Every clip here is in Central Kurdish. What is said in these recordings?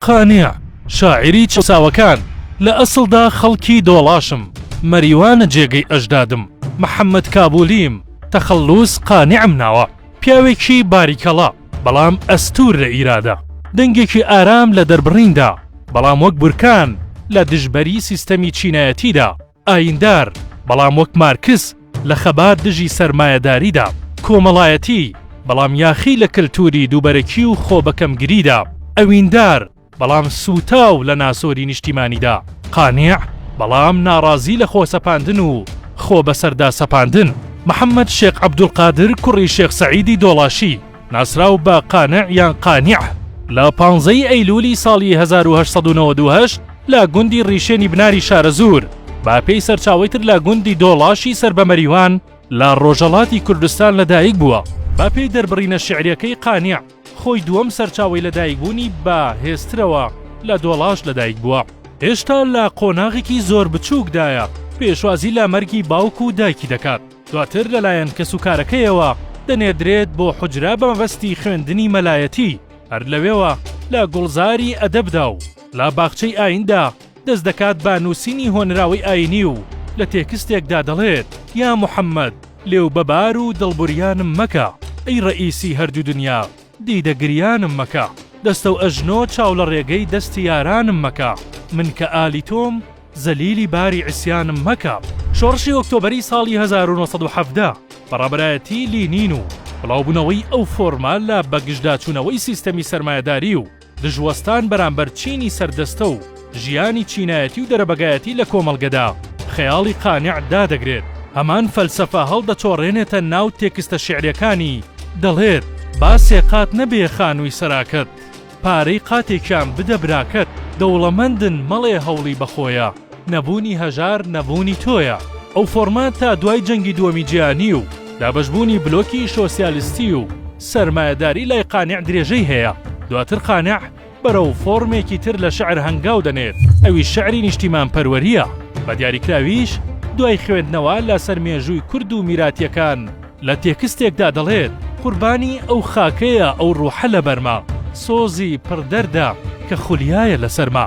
قانع، شاعیری چەساوەکان، لە ئەسڵدا خەڵکی دۆڵاشم، مەریوانە جێگەی ئەژدادم، محەمەد کابوولیم، تەخەللووس قانعم ناوە، پیاوێکی باریکەڵە، بەڵام ئەستوور لە ئیرادە، دەنگێکی ئارام لە دەربڕیندا، بەڵام وەک بورکان لە دژبەری سیستەمی چینایەتیدا، ئاییندار، بەڵام وەک مارکس لە خەبات دژی سەرمایەداریدا، کۆمەڵایەتی، بەڵام یاخی لە کەلتوری دووبەرەکی و خۆبەکەمگریدا، ئەویندار، بەڵام سووتاو لە ناسۆری نیشتیمانیدا، قانع، بەڵام ناڕازی لە خۆسەپاندن و خۆبەسەرداسەپاندن، محەمەد شێخ عەبدولقادر کوڕی شێخ سەعیدی دۆڵاشی، ناسراو بە قانع یان قانیع لە پانزەی ئەیلولی ساڵی 1998 لە گوندی ڕیشێنی بناری شارەزوور باپێی سەرچاوی تر لە گوندی دۆڵاشی سەر بە مەریوان لە ڕۆژەڵاتی کوردستان لەدایک بووە باپێی دەربڕینە شعریەکەی قانیع خۆی دووەم سەرچاوی لەدایکبوونی بە هێسترەوە لە دۆڵاش لەدایک بووە هێشتا لە قۆناغێکی زۆر بچووکدایە پێشوازی لە مەرگی باوک و دایکی دەکات دواتر لەلایەن کەسوکارەکەیەوە دەنێردرێت بۆ حوجرە بە مەبەستی خوێندنی مەلایەتی، هەر لەوێوە لە گوڵزاری ئەدەبدا و لە باخچەی ئایندا دەست دەکات بە نووسینی هۆنراوەی ئاینی و لە تێکستێکدا دەڵێت، یا محەمەد لێو بەبار و دڵبریانم مەکە، ئەی ڕەئیسی هەردوو دنیا. دیدە گریانم مەکە دەستەو ئەژنۆ چاو لە ڕێگەی دەستی یارانم مەکە من کە ئالی تۆم زەلیلی باری عیسیانم مەکە شۆڕشی ئۆکتۆبەری ساڵی هەزار و نۆ سەد و حەڤدە بە ڕابەرایەتی لینین و بڵاوبونەوەی ئەو فۆرمە لە بەگژداچونەوەی سیستەمی سەرمایەداری و دژوەستان بەرامبەر چینی سەردەستە و ژیانی چینایەتی و دەرەبەگایەتی لە کۆمەڵگەدا، خەیاڵی قانع دادەگرێت، هەمان فەلسەفە هەڵدەچۆڕێنێتە ناو تێکستە شیعریەکانی، دەڵێت، با سێ قات نەبێ خانووی سەراکەت، پارەی قاتێکیان بدە براکەت، دەوڵەمەندن مەڵێ هەوڵی بەخۆیە. نەبوونی هەژار نەبوونی تۆیە. ئەو فۆڕمە تا دوای جەنگی دووەمی جیهانی و دابەشبوونی بلۆکی شۆسیالیستی و سەرمایەداری لای قانع درێژەی هەیە. دواتر قانع بەرەو فۆڕمێکی تر لە شعر هەنگاو دەنێت، ئەویش شعری نیشتیمانپەروەرییە. بە دیاریکراویش دوای خوێندنەوە لەسەر مێژووی کورد و میراتییەکان لە تێکستێکدا دەڵێت. قوربانی ئەو خاکەیە ئەو ڕوحە لەبەرمە، سۆزی پڕ دەردە کە خولیایە لەسەرما.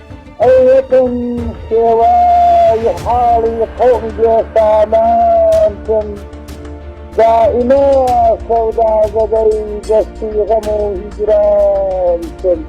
ئەوەتەن شێوای حاڵی قەومی بێسامان کن دائیمە سەودازەدەی دەستی غەم و هیجران کن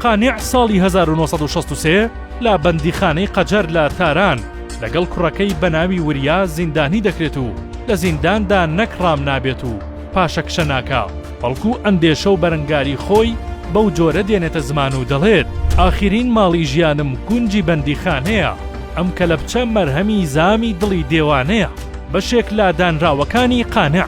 قانع ساڵی 1963 لە بەندیخانەی قەجەر لە تاران لەگەڵ کوڕەکەی بەناوی وریا زیندانی دەکرێت و لە زینداندا نەک ڕام نابێت و پاشەکشە ناکا بەڵکو ئەندێشە و بەرەنگاری خۆی بەو جۆرە دێنێتە زمان و دەڵێت، ئاخرین ماڵی ژیانم گونجی بەندیخانەیە، ئەم کەلەپچە مەرهەمی زامی دڵی دێوانەیە. بەشێک لە دانراوەکانی قانع،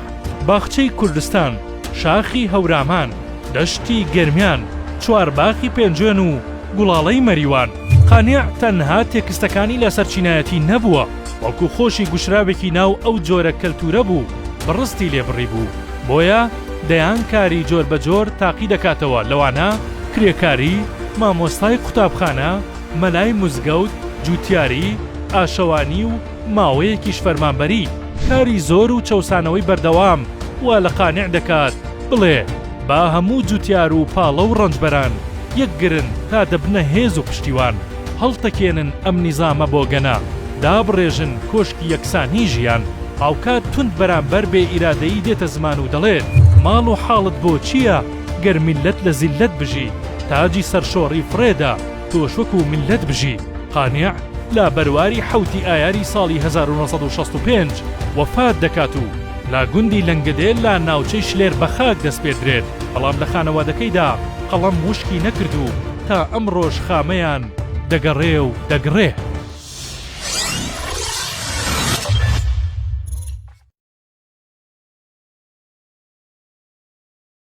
باخچەی کوردستان، شاخی هەورامان، دەشتی گەرمیان، چوارباخی پێنجوێن و گوڵاڵەی مەریوان. قانع تەنها تێکستەکانی لەسەر چینایەتی نەبووە، بەڵکو خۆشی گوشراوێکی ناو ئەو جۆرە کەلتوورە بوو، بڕستی لێ بڕیبوو. بۆیە دەیان کاری جۆربەجۆر تاقی دەکاتەوە لەوانە، کرێکاری، مامۆستای قوتابخانە، مەلای مزگەوت، جوتیاری، ئاشەوانی و ماوەیەکیش فەرمانبەری. کاری زۆر و چەوسانەوەی بەردەوام وا لە قانع دەکات بڵێ با هەموو جوتیار و پاڵە و ڕەنجبەران یەکگرن تا دەبنە هێز و پشتیوان. هەڵتەکێنن ئەم نیزامە بۆگەنە، دابڕێژن کۆشکی یەکسانیی ژیان. هاوکات توند بەرامبەر بێ ئیرادەیی دێتە زمان و دەڵێت، ماڵ و حاڵت بۆ چییە گەر میللەت لە زیللەت بژی، تاجی سەرشۆڕی فڕێدا، تۆش وەکوو میللەت بژی. قانع لە بەرواری حەوتی ئایاری ساڵی هەزار و نۆ سەد و شەست و پێنج وەفات دەکات و لە گوندی لەنگەدێ لە ناوچەی شلێر بە خاک دەسپێردرێت، بەڵام لە خانەوادەکەیدا قەڵەم وشکی نەکرد و، تا ئەمڕۆش خامەیان دەگەڕێ و دەگڕێ.